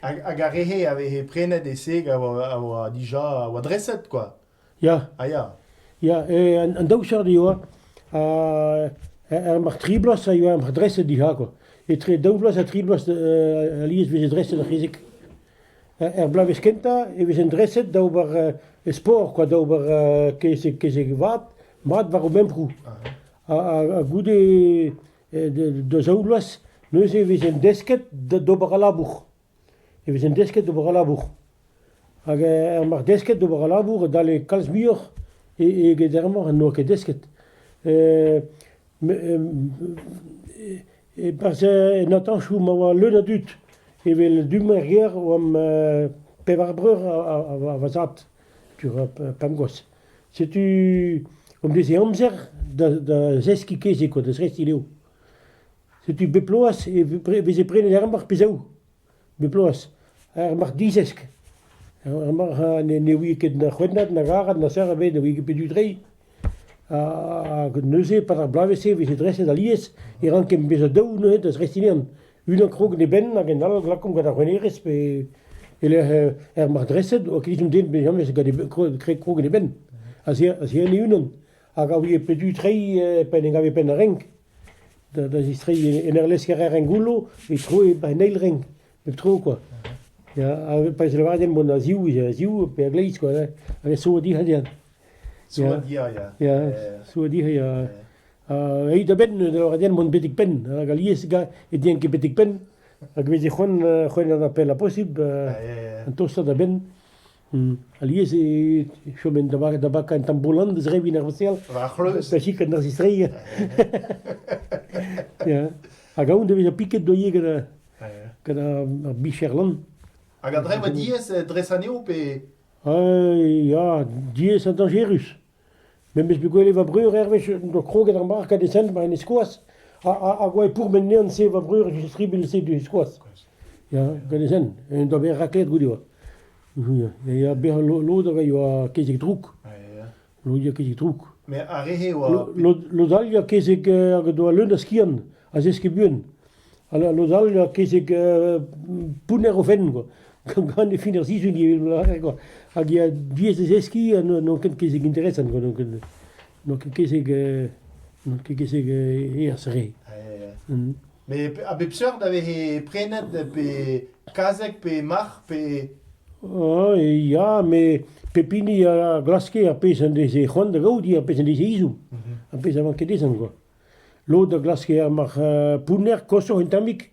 Hag ar re-se a veze prenet e-se a oa dija a oa dreset kwa. Ya. A ya. Ya, an daou seurt eo ha mar tri bloaz a yoa mar dreset dija kwa. Etre daou vloaz ha tri bloaz alies e veze dreset ar c'hezeg. Er bloavezh kentañ e vezent dreset da ober sport kwa, da ober kezeg vat mat war o memproù. ha goude da zaou vloaz neuze e vezent desket d'ober al labour, e vezent desket d'ober al labour hag er marc'h desket d'ober al labour e dalle kalz muioc'h eget er marc'h n'oa ket desket. E-barzh en atanchoù ma oa leun a dud, evel du-mañ er gêr oamp pevar breur ha va zad, tu pemp gwaz. Setu an deiz-se amzer da da zeskiñ kezeg koa, da zrestiñ levr. Setu bep bloaz e veze prenet ar marc'h pe zaou, bep bloaz, ar marc'h dizesk. Ar marc'h ne ne ouie ket na c'hwennat, na garet, na serr ebet, ne ouie ket petu treiñ. Ha neuze, 'pad ar bloavezh-se, e veze dreset alies e rankent bezañ daou neuze da zrestiñ anezhan. Unan krog en e benn hag en all a glakomp gant ar renerezh pe e-lec'h er martresed. Oa ket echu den memes gant e benn- krog- krog en e benn. A-zihern e-unan. Hag a ouie pedu treiñ pa en em gave penn ar renk. Da da zistreiñ en ur lesker-rer en goullo e troe ba en eil renk. Pep tro kwa. Ya, ha pa vez lavaret din mont a-ziv, a-ziv pe a-gleiz kwa. Hag a so dic'hadiad. Souadia ya. Ya, Souadia ya. Aet da benn da lavaret mont betek penn, hag alies e dien ket betek penn, hag veze c'hoant c'hoant an apel a posibl, an tostañ da benn. Alies e chomen da barat da baka un tamboulin deus revin ar vosel. War c'hleuz. Da chik an zistreiñ. Ya. Hag aon da vezañ piket doie gant ar bicher lan. Hag a dremm diaes dres anezho pe... ya, diaes ha dañjerus. Memes bet gwelet va breur hervez, en doa kroget ar marc'h gant e sent war en e-skoaz, ha, ha, hag oa e pourmen nean-se va breur e tribil-se du e-skoaz. Ya, gant e sent. En doa bet raklet goude oa. Ya, ya, bezañ lod a yoa kezeg drouk. Lod eo ket e-droug. Met ar re-se a oa... Lod, lod all eo kezeg hag o doa leun a skiant, a zeske buan. Ha lod all eo kezeg pounner o fenn, quoi. Gant e fin ar sizhun ivez, quoi. Hag ya diaes da zeskiñ ha n'on ket kezeg interesant, quoi. N'on ket, n'on ket kezeg, n'on ket kezeg erzh re. Met a bep seurt a veze prenet pe kazeg pe marc'h pe... Ah ya, met pep hini a glaske ar pezh en deze c'hoant da gaout, ar pezh en deze ezhomm, ar pezh a vanke dezhañ kwa. Lod a glaske ar marc'h pounner koshoc'h un tammig,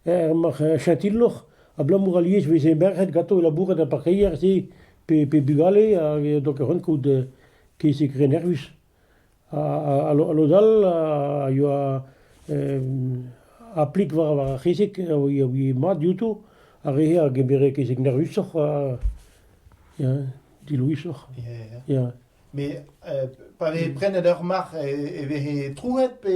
ar marc'h chatilhoc'h, abalamour alies veze merc'hed ganto o labourat er parkeier-se pe bugale, hag donc a c'hoant kaout kezeg re nervus. Ha lod all a yoa aplik war ar c'hezeg a ouie mat diouto, ar re-se a gemere kezeg nervusoc'h ha ya dilouesoc'h. Ya. Met pa vez prenet ur marc'h e veze trouet pe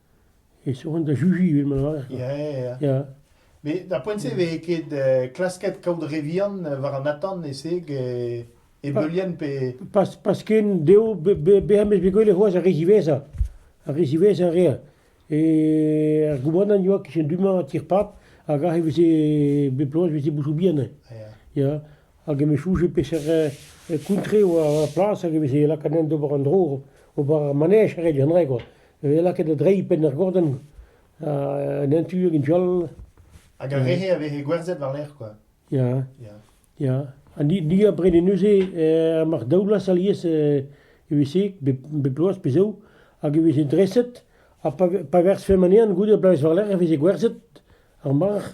e soñj da Juji ivez ma lârer. Ya, ya, ya. Ya, Mais da poent-se vez ket euh, klasket kaout re vihan euh, war an atant e-seg e, e beulien pe... pas, pas ken dezho be- be- bezañ bet bet gwell c'hoazh ar re ziwezhañ. Ar re ziwezhañ a rea. E ar goubanant yoa kichen du-mañ a tir-pab hag aze e veze bep bloaz e veze bouchou bihan. Ya. Ya, hag em eus soñjet peseurt kountre e oa ar plas hag e veze lakaet d'ober an dro, ober ar manej a red an dra quoi, e veze lakaet da dreiñ penn ar gordenn, en un tu hag en tu all. Hag ar re-se a veze gwerzhet war-lerc'h quoi. Ya, ya, ha ni abred neuze mar daolas alies evese bep bloaz pe zaou hag e veze dreset ha pa verzfemp anezhan goude ar bloaz war-lerc'h e veze gwerzhet ar marc'h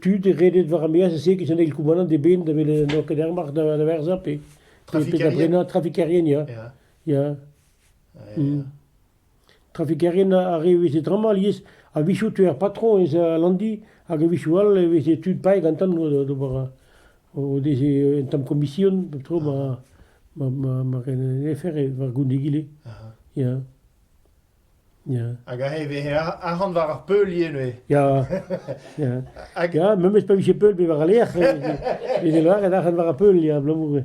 tud redet war ar meaz-se evit an eil koumanant eben da welet n'oa ket ar marc'h da werza pe pe da brena trafikerien ya ya mm. trafikerien ar re a veze tramor alies a-wechou teu ar patron eus al Landi hag a-wechou all e veze tud paeet gantan d'ober o deze un tamm komision pep tro ma ma ma ma ren an afer war goun egile ya Hag aze e vez arc'hant war ar peulioù neuze. Ya, ya, ya, memes pa vije peul pe war al lec'h, e veze lâret arc'hant war ar peul, ya, abalamour.